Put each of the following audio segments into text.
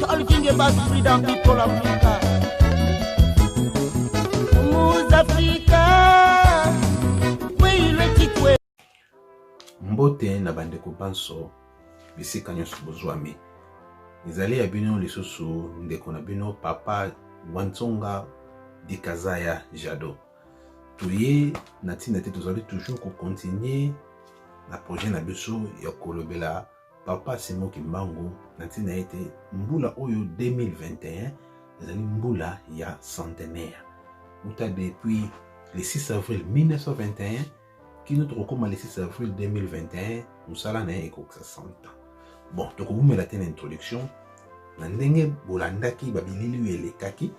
Talking about freedom, people of freedom. mbote na bandeko banso bisika nyonso bozwami ezali ya bino lisusu ndeko na bino papa wanzonga dikazaya jado toye na ntina te tozali toujours kokontinue na projet na biso ya kolobela papa simo kimbangu na ntina ete mbula oyo 2021 ezali mbula ya centenaire uta depuis le 6 avril 1921 kino tokokóma le 6 avril 2021 mosala na ye ekokisa 100 ans bon tokowumela te na introduction na ndenge bolandaki babilili oyo elekaki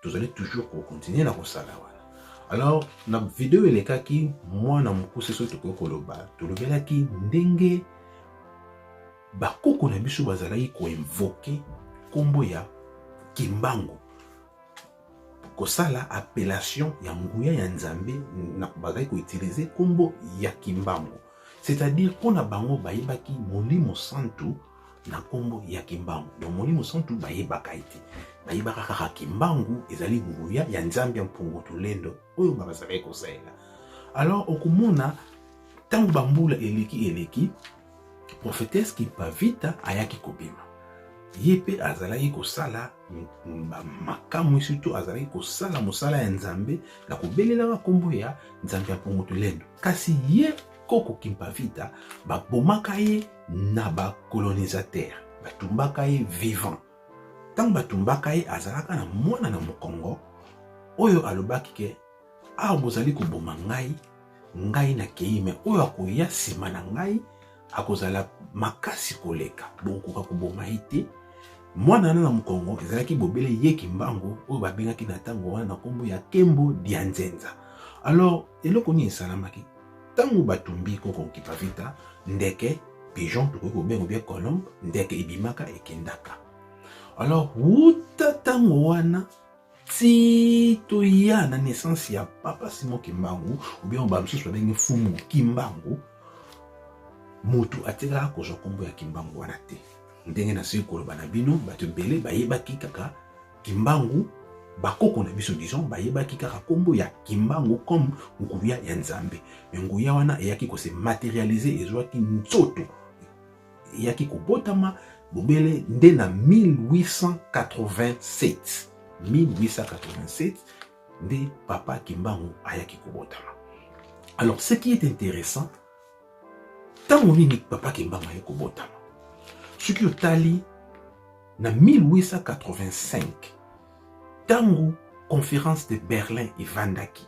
tozali toujours ko continuer na kosala wana alors na video elekaki mwana mokuse soki tokoki koloba tolobelaki ndenge bakoko na biso bazalaki koinvoke nkombo ya kimbangu kosala appellation ya nguya ya nzambe bazalaki koutilize nkombo ya kimbangu c'est-à-dire mpo na bango bayebaki molimo santu na nkombo ya kimbangu donc molimo santu bayebaka ye te bayebaka kaka kimbangu ezali nguya ya nzambe ya mpungu tolendo oyo nga bazalaki kosalela alors okomona ntango bambula eleki eleki prophetese kimpavita ayaki kobima ye mpe azalaki kosala makamwi surtout azalaki kosala mosala ya nzambe na kobelelaka nkombo ya nzambe ya mpongo tolendo kasi ye koko kimpavita babomaka ye na bacolonisateur batumbaka ye vivant ntango batumbaka ye azalaka na mwana na mokongo oyo alobaki ke awa bozali koboma ngai ngai nakei me oyo akoya nsima na ngai akozala makasi koleka bokokoka koboma ye te mwana wana na mokongo ezalaki bobele ye kimbangu oyo babengaki na ntango wana na nkombo ya kembo dia nzenza alors eloko nini esalamaki ntango batumbi koko nkipavita ndeke pigeon tokoki kobenga bia colombe ndeke ebimaka ekendaka alors wuta ntango wana ti toya na naissance ya papa Simon Kimbangu ou bien ba misusu babengi mfumu Kimbangu motu atikala kozwa nkombo ya Kimbangu wana te ndenge nasili koloba na bino bato ebele bayebaki kaka Kimbangu bakoko na biso disons bayebaki kaka nkombo ya kimbangu comme nguya ya nzambe me nguya wana eyaki kose materialize ezwaki nzoto eyaki kobotama bobele nde na 1887 1887 nde papa kimbangu ayaki kobotama alors ce qui est intéressant ntango nini papa kimbangu ayaki kobotama soki otali na 1885 ntango conférence de berlin evandaki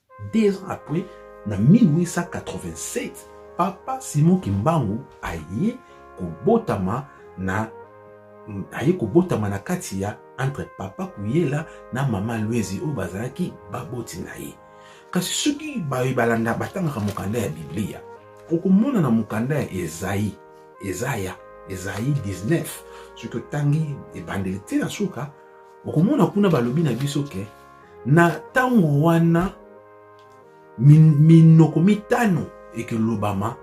Deux ans après, na 1887, Papa Simon Kimbangu aye kobotama na aye kobotama na kati ya entre Papa Kuyela na Mama Lwezi oyo bazalaki baboti na ye. Kasi soki baye balanda batangaka mokanda ya Biblia, okomona na mokanda ya Ezai, Ezaya, Ezai 19, soki otangi ebandeli te na suka, okomona kuna balobi na biso ke na ntango wana minoko mitano ekolobama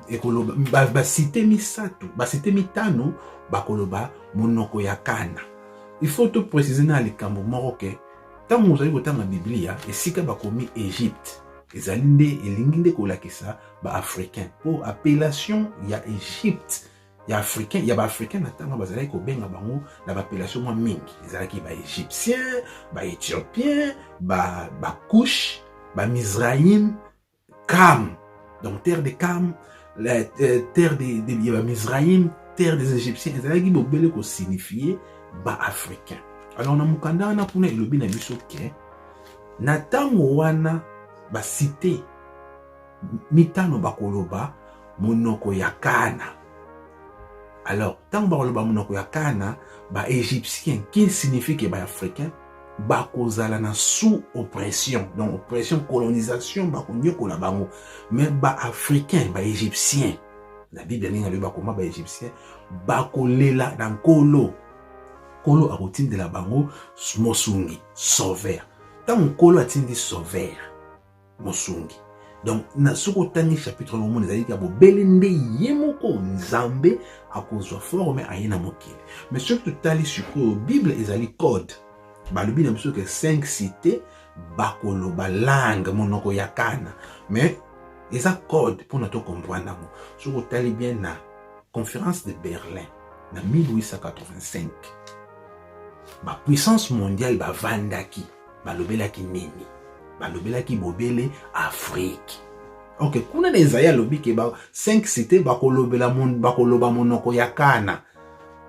ekoloba basite misato basite mitano bakoloba monoko ya kana il faut to préciser na likambo moko ke ntango ozali kotanga biblia esika bakomi egypte ezali nde elingi nde kolakisa baafricain mpo appellation ya egypte ya africain ya baafricain na ntango bazalaki kobenga bango na bapellation mwa mingi ezalaki baegyptien baethiopien bakush ba bamizraim cam donc terre de cam la, euh, terre de, de, de bamizraim terre des égyptiens ezalaki bobele kosignifie baafricain alors na mokanda wana kuna elobi na biso ke na ntango wana basite mitano bakoloba monoko ya kana alors ntango bakoloba monoko ya kana baegyptien qui signifie ke baafricain bakozala na sous oppression donc oppression colonisation bakonyokola bango mais baafricain baegyptien na biblia ndenge alobi bakoma baegyptien bakolela na nkolo nkolo akotindela bango mosungi sauveur ntango nkolo atindi sauveur mosungi donc na soki otangi chapitre yango omona ezali ya bobele nde ye moko nzambe akozwa forme aye na mokili mais soki totali sikoyo bible ezali code balobi na biso ke 5 cité bakoloba langue monoko ya kana mais eza code mpona tocomprendre yango soki otali bien na conférence de berlin na 1885 bapuissance mondiale bavandaki balobelaki nini balobelaki bobele afrike ok kuna na ezali alobi ke ba 5 cité bakolobela bakoloba monoko ya kana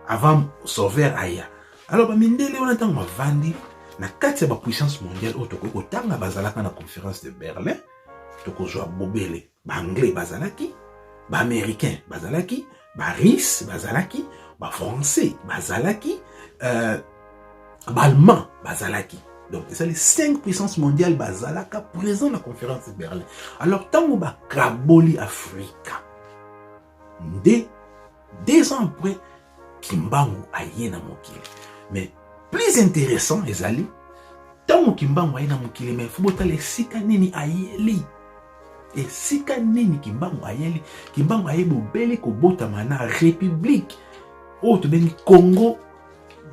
avant sauveur aya alors bamindele wana ntango bavandi na kati ya bapuissance mondiale oyo tokoki kotanga bazalaka na conférence de berlin tokozwa bobele ba anglais bazalaki ba américain bazalaki ba russe bazalaki ba français bazalaki euh, ba allemand bazalaki donc ezali 5 puissance mondiale bazalaka présent na conférence de berlin alors ntango bakaboli afrika nde deux ans après kimbangu aye na mokili mais plus intéressant ezali ntango kimbangu aye na mokili mais fo botala esika nini ayeli esika nini kimbangu ayeli kimbangu aye bobele kobotama na république oyo tobengi congo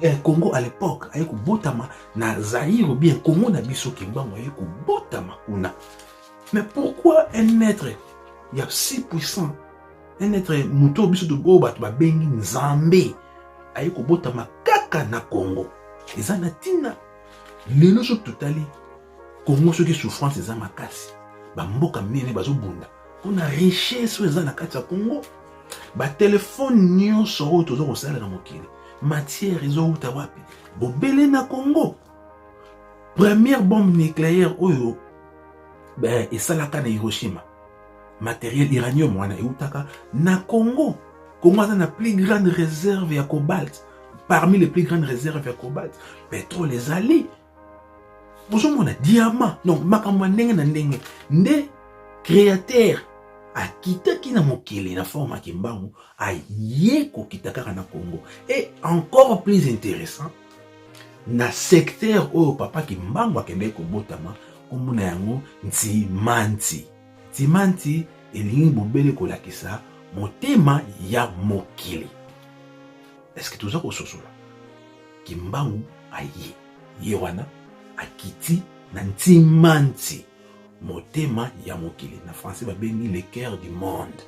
eh, congo à l'époque aye kobotama na zaire bien congo na biso kimbangu aye kobotama kuna Mais pourquoi un être ya si puissant un être moto oyo biso oyo bato babengi nzambe aye kobotama kaka na congo eza na ntina lelo soki totali congo soki souffrance eza makasi bamboka minene bazobunda mpo na richesse oyo eza na kati ya congo batelefone nyonso oyo toza kosala na mokili matière ezowuta wapi bobele na congo première bombe nucléaire oyo ben, esalaka na hiroshima matériel iranium wana eutaka na congo congo aza na plus grande réserve ya cobalt parmi les plus grandes réserves ya cobalt pétrole ezali bozomona diamant donc makambo ya ndenge na ndenge nde créateur akitaki na mokili na forme ya kimbangu aye kokita kaka na congo et encore plus intéressant na secteur oyo papa kimbangu akendeki kobotama nkombo na yango ntimanti ntimanti elingi bobele kolakisa motema ya mokili eske toza kososola kimbangu aye ye wana akiti na ntimanti motema ya mokili na français babengi le cœur du monde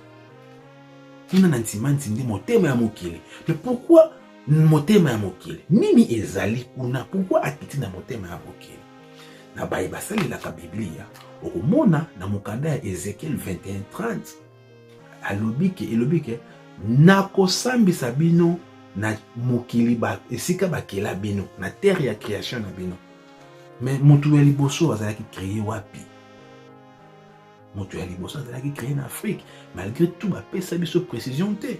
kuna na ntimanti nde motema ya mokili mais pourquoi motema ya mokili nini ezali kuna pourkui akiti na motema ya mokili na baye basalelaka biblia okomona na mokanda ya ezekiel 2130 alobi ke elobi ke nakosambisa bino na mokili ba, esika bakela bino na terre ya création na bino me motu ya liboso azalaki kreye wapi motu ya liboso azalaki kreye na afrique malgré tout bapesa biso précision te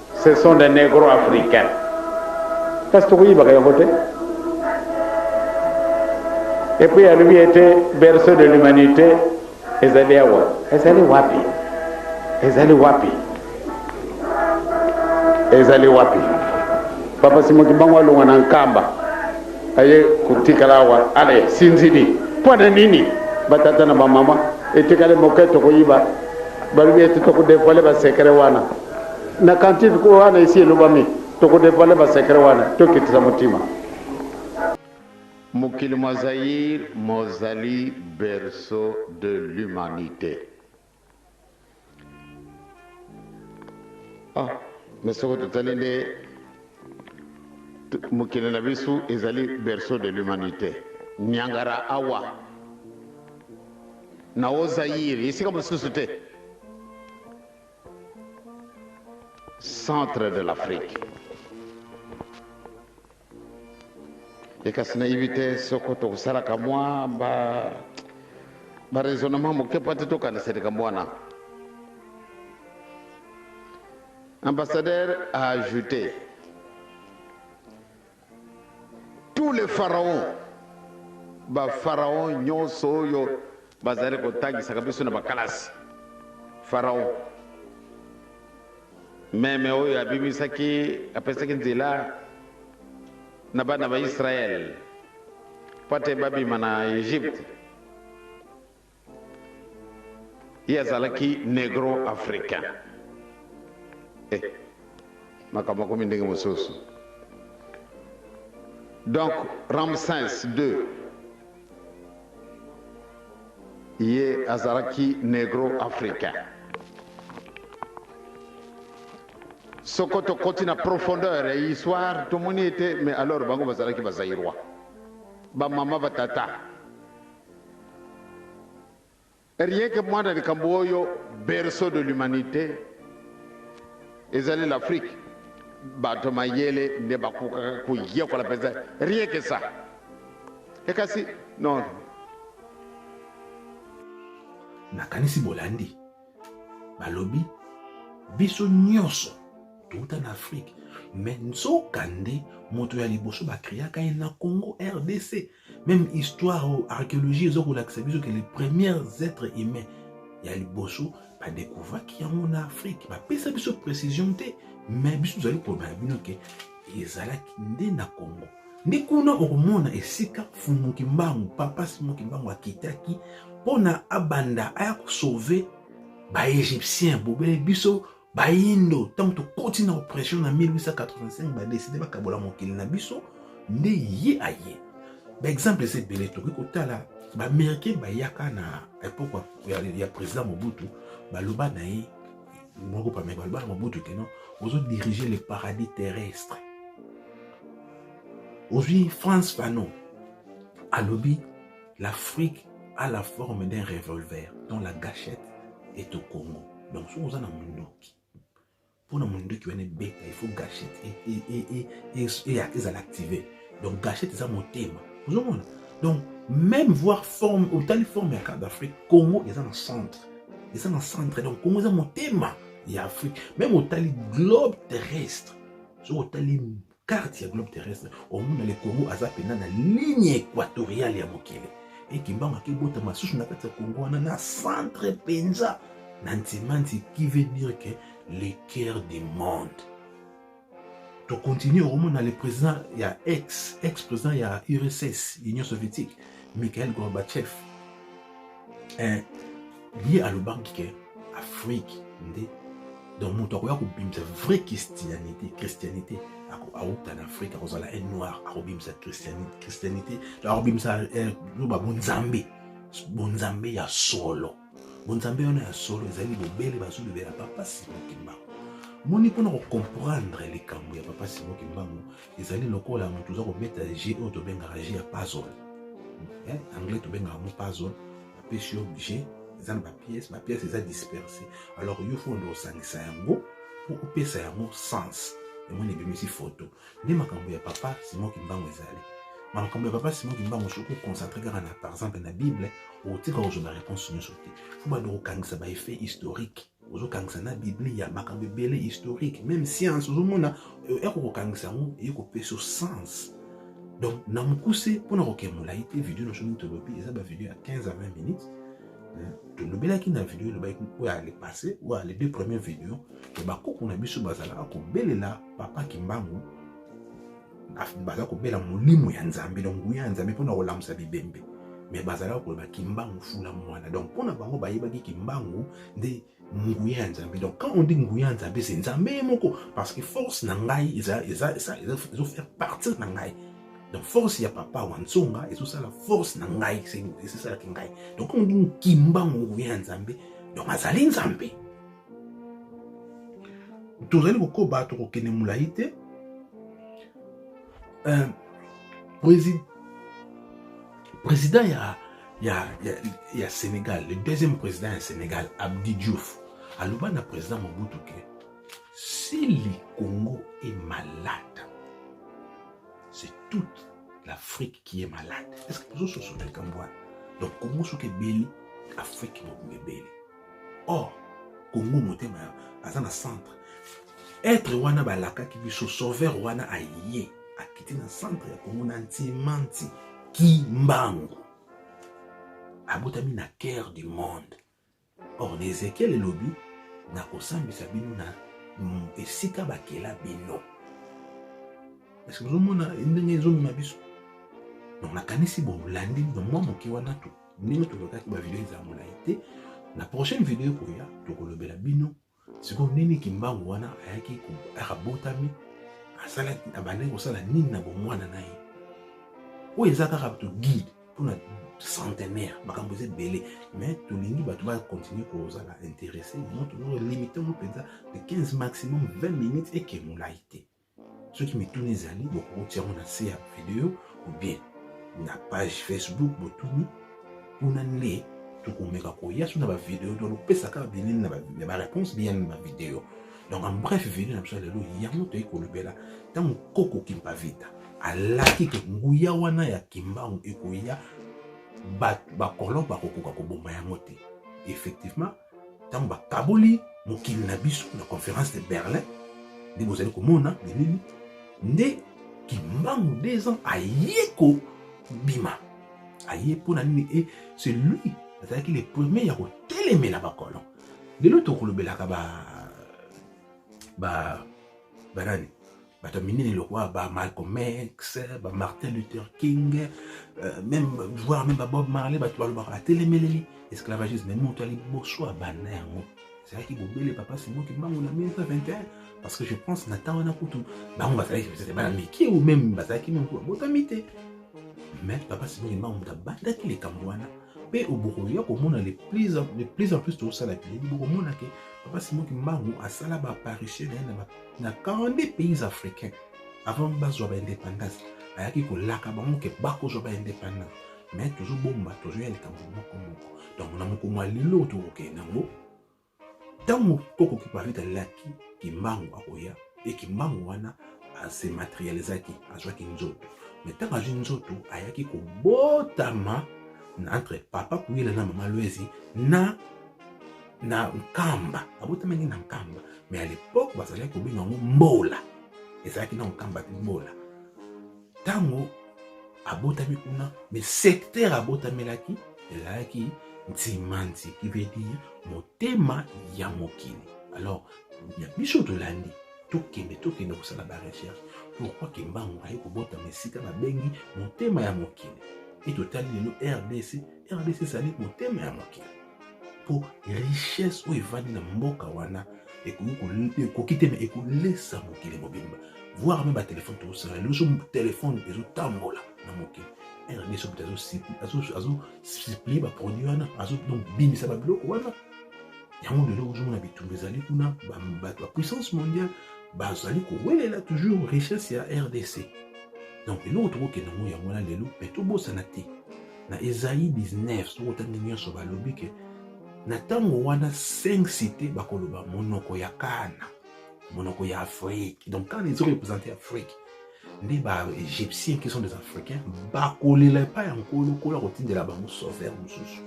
Ce sont des negros africains kasi tokoyibaka yango te epuis alobi ete berceau de l'humanité ezali awa ezali wapi ezali wapi ezali wapi papa simo kibango alongwa na nkamba aye kotikala awa ale sinzili mpo na nini batata na bamama etikali moke tokoyiba balobi ete tokodevoile basekre wana Na cantifique oyo wana esi elobami, toko devoile ba secret wana, to kitisa motima. Mokili mwa Zaïre mozali berceau de l'humanite. Ah, mais soki totali nde mokili na biso ezali berceau de l'humanite. Niangara awa na o Zaïre, esika mosusu te. Centre de l'Afrique. Et kasi nayebi te soko tokosalaka mwa ba baraisonnement moke mpo te tokanisa likambo wana ambassadeur a ajouté Tous les pharaons, ba pharaons nyoso oyo bazali kotangisaka biso na bakalasi, pharaon meme oyo abimisaki, apesaki nzela na bana ba Israël pwate babima na Egypte, Ye azalaki negro africain eh makambo makomi ndenge mosusu donc Ramsens ii ye azalaki negro africain. Soko tokoti na profondeur ya histoire tomoni ete mais alors bango bazalaki ba Zaïrois, ba mama ba tata Rien que muana likambo oyo berceau de l'humanite ezali l'Afrique bato ya mayele nde bakokaka koyekola mpenza rien que ça e kasi non nakanisi bolandi balobi biso nyonso touta na afrike me nzoka nde moto ya liboso bakreaka ye na congo rdc meme histoire oyo archéologie eza kolakisa biso ke les premières êtres humains ya liboso badekouvraki yango na afrike bapesa biso précision te mais biso tozali koloba na bino ke ezalaki nde na congo nde kuna okomona esika fumu kimbangu papa simo kimbangu akitaki mpo na abanda aya kosauve baegyptien bobele biso bayindo ntango tokoti na oppression na 1885 badeside bakabola mokili na biso nde ye aye baexemple eza ebele tokoki kotala baaméricain bayaka na epoke ya, ya président mobutu baloba na ye moko pameka baloba na mobutu keno ozo dirige le paradis terrestre ozwi france fanon alobi L'Afrique a la forme d'un revolver dont la gâchette est au Congo. Donc soki oza na munduki mpo na munduki wana ebeta il faut gâchette ezala active. Donc gâchette eza motema. Ozomona? Donc même voir forme otali forme ya carte d'Afrique, Congo eza na centre. Eza na centre. Donc Congo eza motema ya Afrique. Même otali globe terrestre. Soki otali carte ya globe terrestre omona le Congo aza pena na ligne equatoriale ya mokili e kimbangu akebota masusu na kati ya Congo wana na centre mpenza na ntimanti qui veut dire que le cœur du monde tokontinue okomona le président ya ex ex président ya urss union soviétique Mikhail Gorbachev eh, ye alobaki ke afrique nde donc moto akoya kobimisa vrai christianité christianité awuta na afrique akozala un noir akobimisa christianité donc akobimisa eh, loba bonzambe bonzambe ya solo bonzambe wana ya solo ezali bobele bazolobela papa simo kimbangu moni mpona kocomprendre likambo ya papa simo kimbangu ezali lokola moto oza kobeta je oyo tobengaka je ya puzzle eh, anglais tobengaka yango puzzle bapesi yo je eza na bapiese bapiese eza disperse alors yo fo nde osangisa yango mpo opesa yango sens emoni ebimisi foto nde makambo ya papa simon kimbangu ezali makambo ya papa simon kimbangu soki oconcentre kaka na par exemple na bible okotika kozwa na réponse nyonso te fo bando kokangisa baeffet historique ozokangisa na biblia makambo ebele historique meme science ozomona euh, eko kokangisa yango eye kopesa yo sens donc na mokuse mpona kokee molai te video nyonso nini tolobi eza bavideo ya 15 à 20 minutes euh, tolobelaki na video elobaki oyo ale passe oyo ale deux première video ya bakoko na biso bazalaka kobelela papa kimbangu baza kobela molimo ya nzambe donc nguya ya nzambe mpona kolamusa bibembe me bazalaka koloba kimbangu fula mwana donc mpo na bango bayebaki kimbangu nde nguya ya nzambe donc quand on dit nguya ya nzambe se nzambe ye moko parce que force na ngai ezofaire partir na ngai donc force ya papa wa nsonga ezosala force na ngai ezosalaki ngai donc on dit kimbangu nguya ya nzambe donc azali nzambe tozali kokoba tokokende molai te euh, président ya, ya, ya, ya sénégal le deuxième président ya sénégal abdi diouf aloba na président mobutu ke si le congo est malade c'est toute l'afrique qui est malade est ce que bozososola likambo wana donc congo soki ebeli afrique mobimba ebeli or congo motema ya aza na centre etre wana balakaki biso sauveur wana aye akiti na centre ya congo na ntimanti kimbangu abotami na cœur du monde or na ezekiel elobi nakosambisa bino na mm, esika bakela bino eske bozomona ndenge ezomema biso donc nakanisi bolandi mwa moke wana to ndenge tolotaki bavideo ezala molai te na prochaine video ekoya tokolobela bino sikoyo nini kimbangu wana ayaki akabotami asalaki abandaki kosala nini na bomwana na ye oyo eza kaka to guide mpona centenaire makambo eza ebele mais tolingi bato bakontinue kozala interesse moto limite yango mpenza de 15 maximum 20 minutes eke molai te soki mituni ezali bokoki yango na se ya video obien na page facebook botuni kuna nde tokomeka koya so na bavideo tolopesa kaka bilili na bareponse biyani na bavideo donc en bref video na biso ya lelo yango toyei kolobela ntango koko kimpavita alaki ke nguya wana ya kimbangu ekoya bakolon bakokoka koboma yango te effectivement ntango bakaboli mokili na biso na conference de berlin nde bozali komona bilili nde kimbangu des ans aye kobima aye mpo na nini e c'est lui azalaki le premier ya kotelemela bakolon lelo tokolobelaka ba ba banani bato ya minene lokola ba malcolm x ba martin luther king euh, meme voir meme ba bob marley bato balobaka batelemeleli esclavagisme me moto ya liboso abanda yango ezalaki bobele papa simo kimbangu na 1921 parce que je pense na ntango wana kutu bango bazalaki peut-être bana mike ou meme bazalaki meme kutu babotami te mais papa simo kimbangu moto abandaki likambo wana mpe obokoya komona de plus en plus tosala bileli bokomona ke papa simo kimbangu asala baapparition na ye na na 42 pays africains avant bazwa ba indépendance ayaki kolaka bango ke bakozwa ba indépendance mais tozobomba tozoya likambo moko moko donc na mokolo ya lelo tokokende yango ntango koko kiparita alaki kimbangu akoya e kimbangu wana ase materialisaki azwaki nzoto me ntango azwi nzoto ayaki kobotama na entre papa kuyela na mama lwezi na na nkamba abotamaki na nkamba me à l'époque bazalaki kobenga yango mbola ezalaki na nkamba te mbola ntango abotami kuna me secteur abotamelaki ezalaki nzimanzi qui veut dire motema ya mokili alors ya biso tolandi tokende tokende kosala barecherche pourkui kimbangu aye kobotama esika babengi motema ya mokili e totali lelo rdc rdc ezali motema ya mokili mpo richesse oyo evandi na mboka wana ekoki te me ekolesa mokili mobimba voir meme batelefone tokosala liboso telefone ezotambola na mokili rdc moto azosiplie baproduit wana azobimisa babiloko wana yango lelo ozomona bitumba ezali kuna bato ya puissance mondiale bazali kowelela toujours richesse ya rdc donc eloko tokokende yango yango wana lelo me tobosana te na Esaïe 19 soki otangi nyonso balobi ke na ntango wana cinq cité bakoloba monoko ya kana monoko ya afrique donc kana eza korepresente afrique nde baegyptien qui sont des africains bakolela epai ya nkolo nkolo akotindela bango sauveur mosusu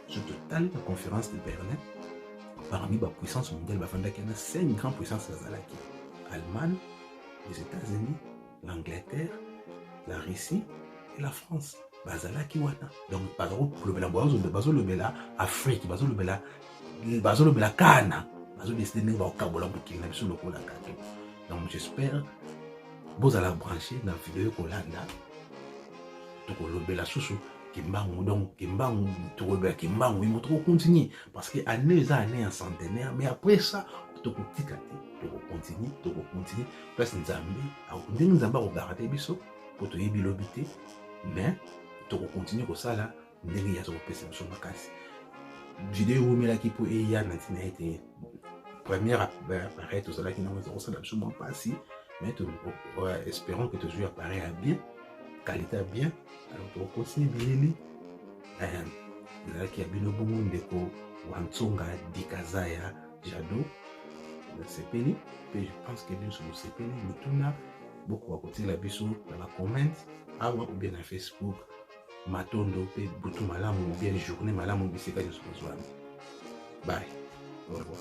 soki totali na conférence de berlin parmi bapuissance mondiale bafandaki na cinq grand puissance bazalaki allemagne les états-unis l'angleterre la russie et la france bazalaki wana donc bazolobela bazolobela afrique bazolobela bazolobela kana bazodeside ndenge bakokabola mokili na biso lokola gato donc j'espère bozala branche na video ekolanda tokolobela susu kimbangu donc kimbangu tokolobela kimbangu imo tokokontinue parce que année eza année ya centenaire mais après ça tokotika te tokokontinue tokokontinue place nzambe ndenge nzambe akogarante biso mpo toyebi lobi te mais tokokontinue kosala ndenge ye aza kopesa biso makasi video eumelaki mpo eya na ntina ete première appareil tozalaki nango eza kosala biso mwa mpasi mais espérons que tozwi appareil ya bien qualité ya bien alors tokokosi bilili ezalaki ya bino bongo ndeko wantsonga dikazaya jado nasepeli mpe je pense que biso bosepeli mituna bokoka kotiela biso na bacomment awa ubie na facebook matondo mpe butu malamu ubie journée malamu bisika nyonso bozwami bye au revoir